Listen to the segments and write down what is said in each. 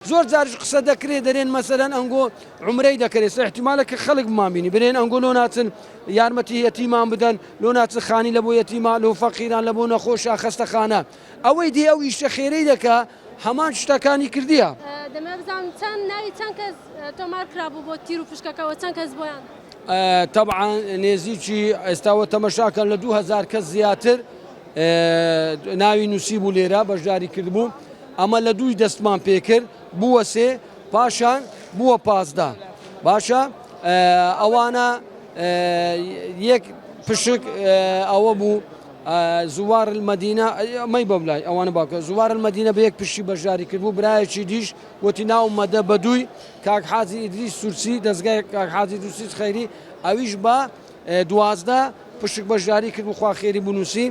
زۆر جاریش قسە دەکرێ دەرێن مەسەلەن ئەنگۆ عومرەی دەکەێ سە احتیمالە کە خەلک بمان بینی برێن ئەنگۆ لۆ ناچن یارمەتی یەتیمان بدەن لۆ ناچن خانی لە بۆ یەتیما لۆ فەقیران لە بۆ نەخۆشە خەستەخانە ئەوەی دێ ئەو ئیشە خێرەی دەکا هەمان شتەکانی کردیە. دەمەوێ بزانم چەند ناوی چەند کەس تۆمار کرابوو بۆ تیر و فشکەکەوە چەند کەس بۆیان؟ تەبعەن نێزیکی ئێستا وە تەمەشاکەن لە دوو هەزار کەس زیاتر ناوی نووسیبوو لێرە بەشداری کردبوو ئەمە لە دووی دەستمان پێکرد بووە سێ پاشان بووە پازدە باشە ئەوانە یەک پشک ئەوە بوو زوار المدینە ئەمەی بەبلای ئەوانە باکە زوار المدینە بە یەک پشتی بەشداری کرد بوو برایەکی دیش وتی ناو مەدە بەدووی کاک حازی ئیدریس سورسی دەستگای کاک حازی دووسیس خەیری ئەویش بە دوازدە، پشک بەشداری کرد و خوا خێری بنووسی،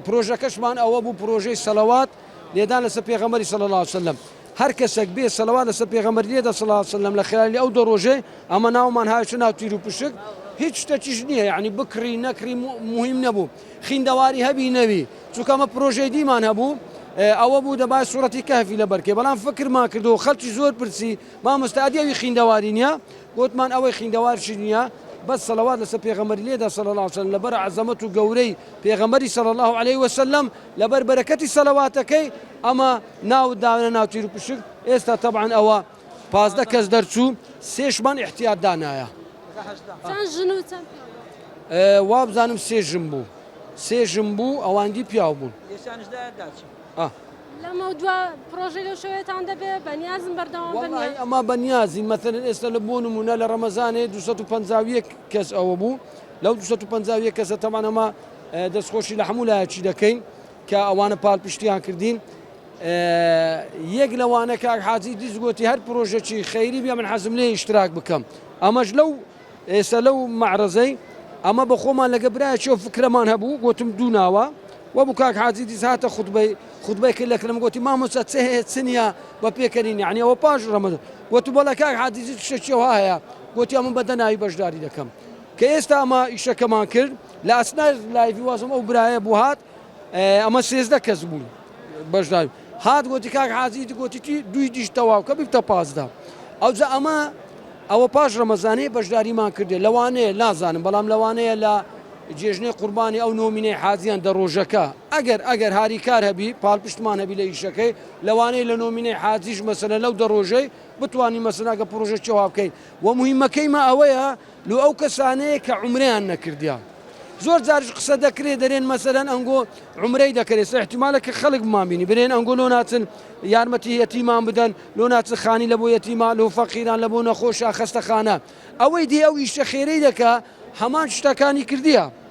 پرۆژەکەشمان ئەوە بوو پرۆژەی سەلەوات لێدان لەسەر پێغەمبەری صلی اللە علیە وسلم هەر کەسەک بێ سەلەوات لەسەر پێغەمبەر لێدە صلی اللە علیە وسلم لە خلالی ئەو دە رۆژەی ئەمە ناومان هاویشتە ناو تیر و پشک هیچ شتەکیش نییە یەعنی بکڕی نەکڕی موهیم نەبوو خیندەواری هەبی نەبی چونکە ئەمە پرۆژەی دیمان هەبوو ئەوە بوو دەبای سوڕەتی کەهفی لەبەر کەی بەڵام فکرمان کردەوە خەڵکی زۆر پرسی مامۆستا ئەدی ئەوی خیندەواری نییە گۆتمان ئەوەی خیندەوار چی نیە بەس سەڵەوات لەسەر پێغەمبەری لێدە صلی اللە علیە وسلم لەبەر عەزەمەت و گەورەی پێغەمبەری صلی اللە علیە وسلم لەبەر بەرەکەتی سەڵەواتەکەی ئەمە ناوت داوە ناو تیرو پشک ئێستا تەبعەن ئەوە پازدە کەس دەرچوو سێشمان احتیاط دانایە چەند ژن و چەند پیاو؟ وابزانم سێ ژن بوو سێ ژن بوو ئەواندی پیاو بوون لێشانش دایە داچوو ئاه. لەمەودوا پڕۆژەی لەو شێوەیەتان دەبێت؟ بەنیازم بەردەوام بن؟ وەڵاهی ئەما بەنیازین، مەسەلەن ئێستا لە بۆ نموونە لە ڕەمەزانێ دوو سەد و پەنجا و یەک کەس ئەوە بوو، لەو دوو سەد و پەنجا و یەک کەسە تەبعەن ئەمە دەستخۆشی لە هەموو لایەکی دەکەین کە ئەوانە پاڵپشتییان کردین، یەک لەوانە کاک حاجی دیس گۆتی هەر پڕۆژەکی خەیری بێ من حەزم لێیە ئیشتراک بکەم، ئەمەش لەو ئێستا لەو مەعرەزەی ئەمە بە خۆمان لەگە برایەکی ئەو فکرەمان هەبوو گۆتم دوو ناوە وەبوو کاک حاجی دیس هاتە خوتبەی خوتبەی کرد لە کلم گۆتی مامۆستا چ هەیە چ نییە بە پێکەنین یعنی ئەوە پاش ڕەمەزان گۆت بەڵێ کاک حاجی دیس شتێکی وا هەیە گۆتی ئەمە بە دەناوی بەشداری دەکەم کە ئێستا ئەمە ئیشەکەمان کرد لە ئەسنای لایڤی وازم ئەو برایە بوو هات ئەمە سێزدە کەس بوون بەشدار هات گۆتی کاک حاجی گۆتیی دوی دیش تەواو کە بکتە پازدا ئەوجا ئەمە ئەوە پاش ڕەمەزانەیە بەشداریمان کردێ لەوانەیە نازانم بەڵام لەوانەیە لە جێژنەی قوربانی ئەو نۆمینەی حازیان دە ڕۆژەکە ئەگەر ئەگەر هاری کار هەبی پاڵپشتمان هەبی لە ئیشەکەی لەوانەیە لە نۆمینەی حازیش مەسەنە لەو دە ڕۆژەی بتانی مەسەناگە پرۆژە چێوا بکەین و مهمەکەیمە ئەوەیە لۆ ئەو کەسانەیە کە عومرەیان نەکردیە زۆر جاریش قسە دەکرێ دەرێن مەسەلەن ئەنگۆ عومرەی دەکەێ سەحتیمالە کە خەڵک بمان بینی برێن ئەنگۆ لۆ ناچن یارمەتی یەتیمان بدەن لۆ ناچن خانی لە بۆ یەتیما لۆ فەقیران لە بۆ نەخۆشە خەستەخانە ئەوەی دی ئەو ئیشە خێرەی دەکە هەمان شتەکانی کردیە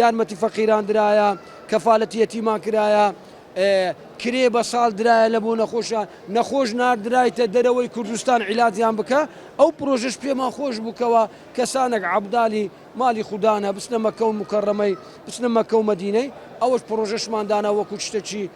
یارمەتی فەقیران درایە، کەفالەتی یەتیمان کرایە، کرێ بە ساڵ درایە لە بۆ نەخۆشان، نەخۆش ناردرایتە دەرەوەی کوردستان عیلاجیان بکە، ئەو پرۆژەش پێمان خۆش بوو کەوا کەسانەک عەبدالی مالی خودانە بچنە مەککە و موکەڕەمەی بچنە مەککە و مەدینەی ئەوەش پرۆژەشمان دانا وەکوو شتەکی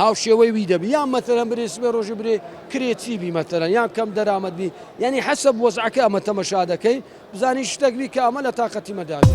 هاوشێوەی وی دەبی یان مەتەلەن برێ سبەی ڕۆژی برێ کرێچی بی مەتەلەن یان کەم دەرامەت بی یانی حەسەب وەزعەکە ئەمە تەمەشا دەکەی بزانی شتەک بی کە ئەمە لە تاقەتی مەدا بی.